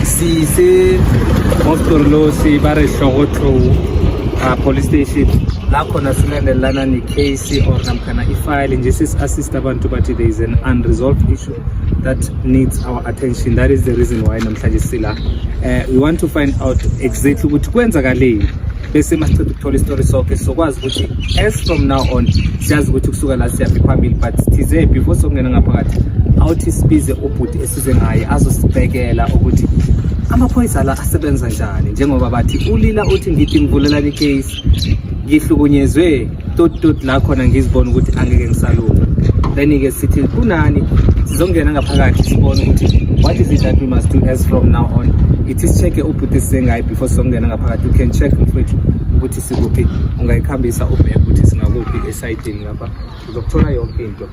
sise mo storolosi ba re hlogotlou uh, police station la khona silandelelana necase or namkhana ifile nje sis-assist abantu bathi there is an unresolved issue that needs our attention that is the reason why namhlanje sila uh, we want to find out exactly ukuthi kwenzakaleni bese masiqeda ukuthola isitori sokhe sizokwazi ukuthi as from now on siyazi ukuthi kusuka la siyaphi phambili but thize before sokungena ngaphakathi awuthi sibize ubhuti esize ngaye azosibhekela ukuthi amaphoyisa la asebenza njani njengoba bathi ulila uthi ngithi ngivulelani icase ngihlukunyezwe tutut la khona ngizibona ukuthi angeke ngisalunga then-ke sithi kunani sizongena ngaphakathi sibone ukuthi what is it that we must do as from now on ithi si-check-e ubhuti sisengayi before sizongena ngaphakathi you can check mfowethu ukuthi sikuphi ungayikhambisa ubheke ukuthi singakuphi esayidini lapha uzokuthola yonke into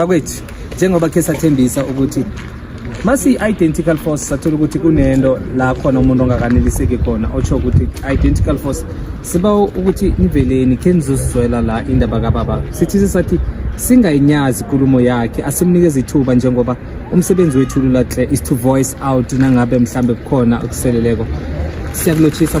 bakwethu njengoba khe sathembisa ukuthi masiyi-identical force sathola ukuthi kunento la khona umuntu ongakaneliseki khona otsho ukuthi identical force siba ukuthi niveleni khe nizozizwela la indaba kababa sithize sathi singayinyazi inkulumo yakhe asimnikeze ithuba njengoba umsebenzi wethu lula hle is to voice out nangabe mhlambe kukhona okuseleleko siyakulotshisa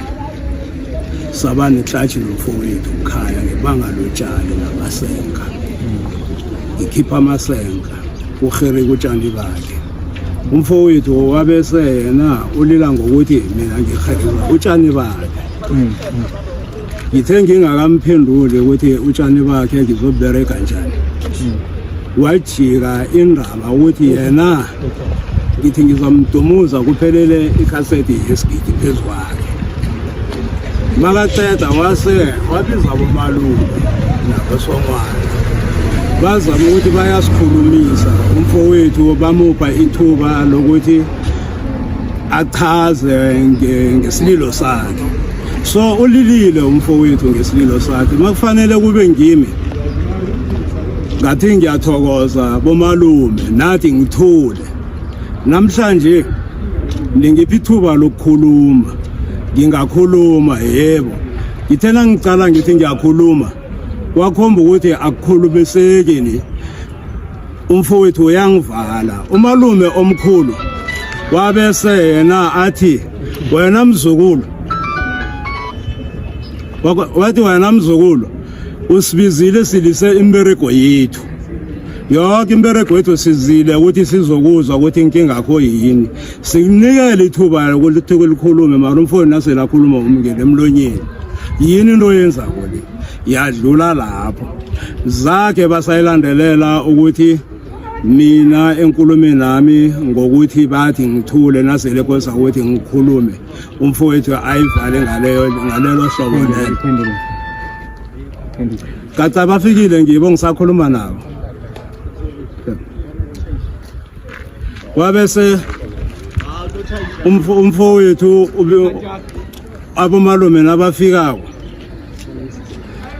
saba neklaji nomfowethu mkhaya ngebanga lotshani namasenka ngikhipha amasenka uhere kutshani bakhe umfowethu wabese yena ulila ngokuthi mina ngiherelwa utshani bakhe ngithe ngingakamphenduli ukuthi utshani bakhe ngizobereka njani wajika indaba ukuthi yena ngithi ngizamdumuza kuphelele ikhasethi yesigidi phezu kwakhe makaceda wase wabiza bomalume nabosongwana bazama ukuthi bayasikhulumisa umfowethu bamupha ithuba lokuthi achaze ngesililo sakhe so ulilile umfowethu ngesililo sakhe makufanele kube ngimi ngathi ngiyathokoza bomalume nathi ngithule namhlanje ningiphi ithuba lokukhuluma ngingakhuluma yebo ngithe nangicala ngithi ngiyakhuluma wakhomba ukuthi akukhulumiseki ni umfowethu uyangivala umalume omkhulu wabese yena athi wena mzukulu wathi wena mzukulu usibizile silise imberego yethu yonke imberego yethu sizile ukuthi sizokuzwa ukuthi inkinga yakho yini sikunikele ithuba lokuthi kulikhulume mara umfowenu naselakhuluma umngele emlonyeni yini into oyenzako le yadlula lapho zakhe basayilandelela ukuthi mina enkulumeni nami ngokuthi bathi ngithule nasele kwenza ukuthi ngikhulume umfowethu ayivale ngaleyo ngalelo hlobo lelo gaca bafikile ngibo ngisakhuluma nabo wabese umfowethu abomalume nabafikako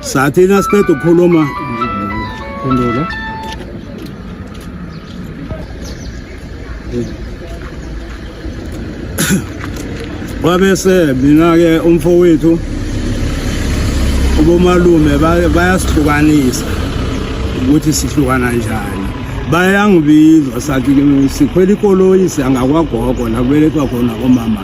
sathi nasiqeda ukukhuluma phendula kwabese mina-ke umfowethu ubomalume bayasihlukanisa ukuthi sihlukana njani bayangibiza sathi sikhwela ikoloyi siyangakwagogo la kubelethwa khona komamama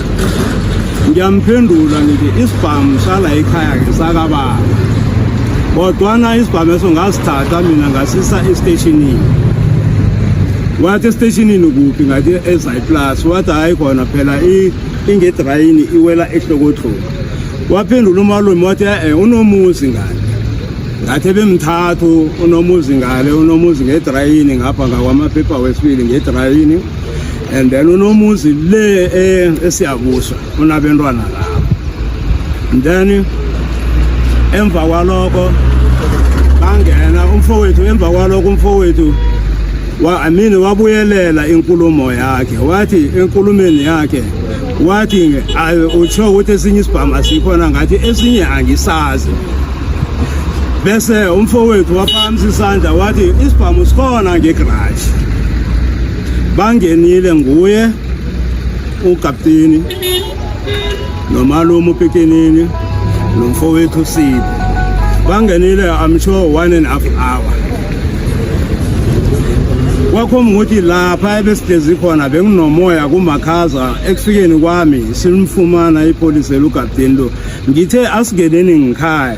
ngiyamphendula ngithi isibhamu sala ekhaya ngisakababa kodwana isibhamu eso ngasithatha mina ngasisa esiteshinini wathi esiteshinini kuphi ngathi eziplus wathi hhayi khona phela ingedrayini iwela ehlokohloko waphendula umalume wathi e-e eh, unomuzi ngani ngathi ebemthathu unomuzi ngale unomuzi ngedrayini ngapha ngakwamaphepha wesibili ngedrayini and then unomuzi le eh, esiyabusa unabentwana lapho then emva kwaloko bangena umfowethu emva kwaloko umfowethu wa amini wabuyelela inkulumo yakhe wathi enkulumeni yakhe wathi utsho ukuthi esinye isibhamu asikhona ngathi esinye angisazi bese umfowethu waphakamisa isandla wathi isibhamu sikhona ngegrashi bangenile nguye ukapteni nomalume upikinini nomfowethu sibe bangenile i'm sure one and half hour kwakhomba ukuthi lapha ebesihlezi khona benginomoya kumakhaza ekufikeni kwami simfumana ipolisi elugabdeni lo ngithe asingeneni ngikhaya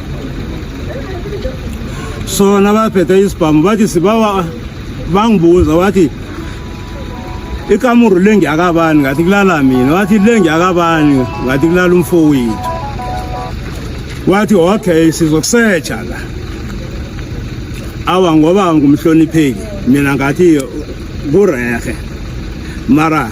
so nabaphethe isibhamu bathi sibawa bangibuza wathi ikamuru le ngiyakabani ngathi kulala mina wathi le ngiyakabani ngathi kulala umfowethu wathi okay sizokusetsha la awa ngoba ngumhlonipheki mina ngathi kurehe mara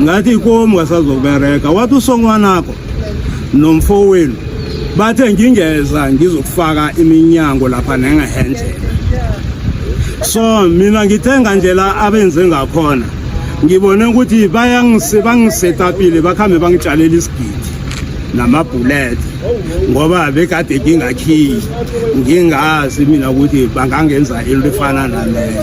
ngathi ikomu kasazobereka wathi usongwanakho nomfowenu bathe ngingeza ngizokufaka iminyango lapha nengehendlela so mina ngithe ngandlela abenze ngakhona ngibone ukuthi bangisetapile bakhambe bangitshalela isigidi namabhulete ngoba bekade ngingakhiyi ngingazi mina ukuthi bangangenza into efana naleyo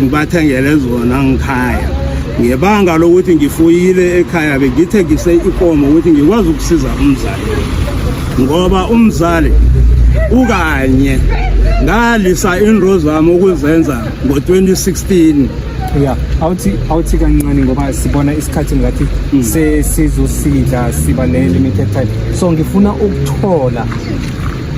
ngibathengele zona ngikhaya ngebanga lokuthi ngifuyile ekhaya bengithengise ikomo ukuthi ngikwazi ukusiza umzali ngoba umzali ukanye ngalisa into zami ukuzenza ngo-2016 ya awuthi awuthi kancane ngoba sibona isikhathi ngathi hmm. sesizosidla siba ne-limited time so ngifuna ukuthola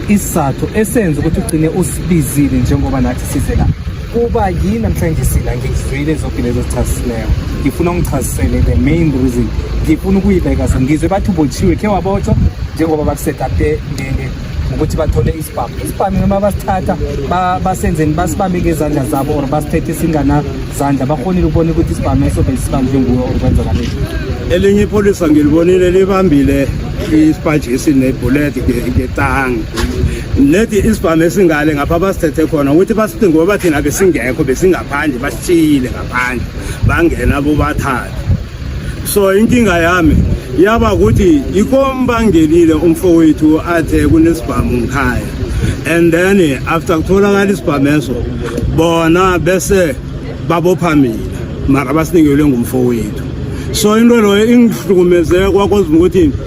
isizathu esenza ukuthi ugcine usibizile njengoba nathi size la kuba yini namhlanje sila ngikuzwile zonke lezo zichazisileyo ngifuna ungichazisele the main reason ngifuna ukuyibeka so ngizwe bathi ubotshiwe khe wabotshwa njengoba bakusetapte ukuthi bathole isibhamu isibhamu noma basithatha basenzeni basibambe ngezandla zabo or basithethe singanazandla bakhonile ukubona ukuthi isibhamu eso besibanjwe nguwe or kwenzakaleni elinye ipholisa ngilibonile libambile isipajisi nebhulet ngetangi nedi isibhamu esingale ngapha basithethe khona ukuthi basithi ngoba thina besingekho besingaphandle basitshiyile ngaphandle bangena bobathathe so inkinga yami yaba ukuthi yikho mbangenile umfowethu athe kunesibhamu ngikhaya and then after kutholakala isibhameso bona bese babopha mina mara basinikele ngumfowethu so into loyo ingihlukumeze kwakozima ukuthi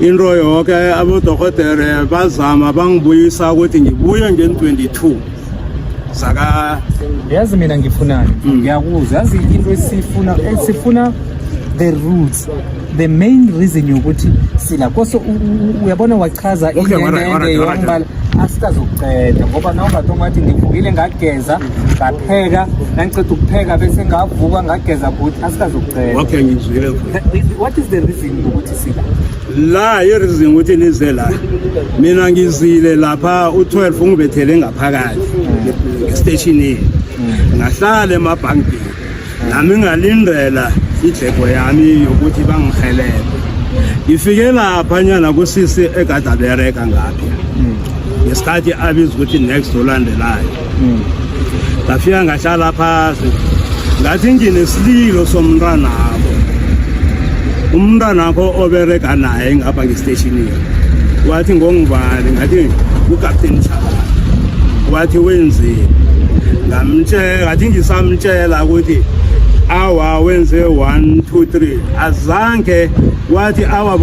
into yoke abodokotere bazama bangibuyisa ukuthi ngibuye ngen-22 zaka yazi mina ngifunani hmm. ngiyakuzwa yazi into esifuna esifuna the roots the main reason yokuthi sila koso uyabona wachaza ingende yombala asikazokuceda ngoba nawungathi ongathi ngivukile ngageza ngapheka nangiceda ukupheka bese ngavuka ngageza kuthi asikazokuceda okay ngizwile what is the reason la irizini ukuthi nize la mina ngizile lapha u-12 ungibethele ngaphakathi esiteshini ngahlala emabhankini nami ngalindela idlego yami yokuthi bangihelele ngifike lapha nyana kusisi egadabereka ngaphi ngesikhathi abiza ukuthi next olandelayo mm. ngafika mm. ngahlala phasi ngathi nje nesililo somntwanakho umntwanakho oberega naye ngapha ngesiteshini wathi ngongivali ngathi ukapteni shabala wathi wenzeni ngamtshela ngathi ngisamtshela ukuthi awa wenze 1 2 3 azange wathi awa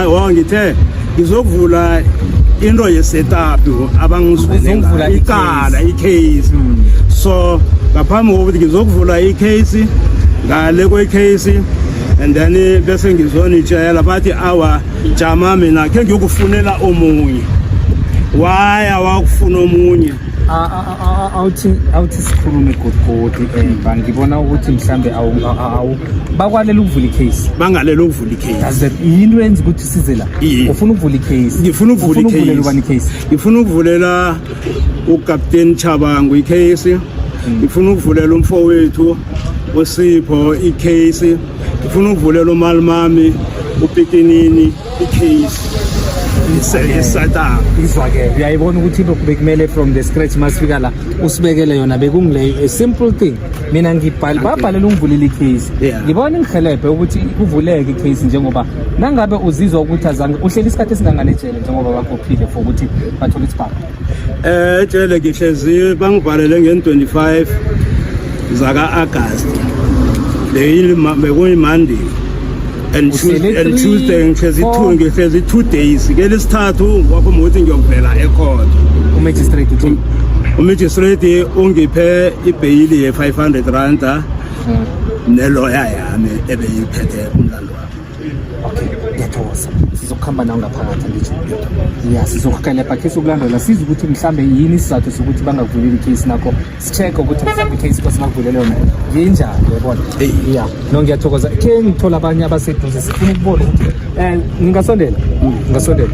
wangithe ngizovula into yesetapi abangizuvula icala icase hmm. so ngaphambi kokuthi ngizokuvula icase ngale kwecase and then bese ngizonitshela bathi awa jama mina khe ngiyokufunela omunye waya wakufuna omunye awuthi awuthi sikhulume godigodi emva eh, ngibona ukuthi mhlambe awu bakwalela ukuvula icase bangalela ukuvula icase yinto enza ukuthi size la Iye. ufuna ukuvula ikheyisi ngifuna ukuvula Ufuna ukuvulela ubani ikheyisi ikheyisi ngifuna ukuvulela ukapteni chabango ikheyisi ngifuna ukuvulela umfowethu usipho ikheyisi ngifuna ukuvulela umalimami upikinini ikheyisi esatanga izwakele uyayibona ukuthi into bekumele from the scratch masifika la usibekele yona bekungileyo a simple thing mina ngibhal- babhalele ungivulela ikheyisi Yeah. ngibona ingihelebhe ukuthi kuvuleke ikheyisi njengoba nangabe uzizwa ukuthi azange uhleli isikhathi esingangane ejele njengoba bakhophile for ukuthi bathole isibhamu eh ejele ngihlezi bangivalele ngen-25 zaka-agasti bekuyimandi and tuesday ngihlezi two ngihlezi two days ke lesithathu kwakho ngokuthi ngiyokuvela ekhona umagistrate uthini umagistrate ungiphe ibheyili ye-500 randa hmm. neloya yami ebeyiphethe umlando okay ngiyathokoza sizokuhamba nawo ngaphakathi andithi ya sizokuhelebha case ukulandela siza ukuthi mhlawumbe yini isizathu sokuthi bangakuvuleli icase nakho sicheck ukuthi mhlawumbe icase kwasingakuvulele yona yinjani yabona ya no ngiyathokoza khe ngithola abanye abaseduze sifuna ukubona ukuthi um ngingasondela ngingasondela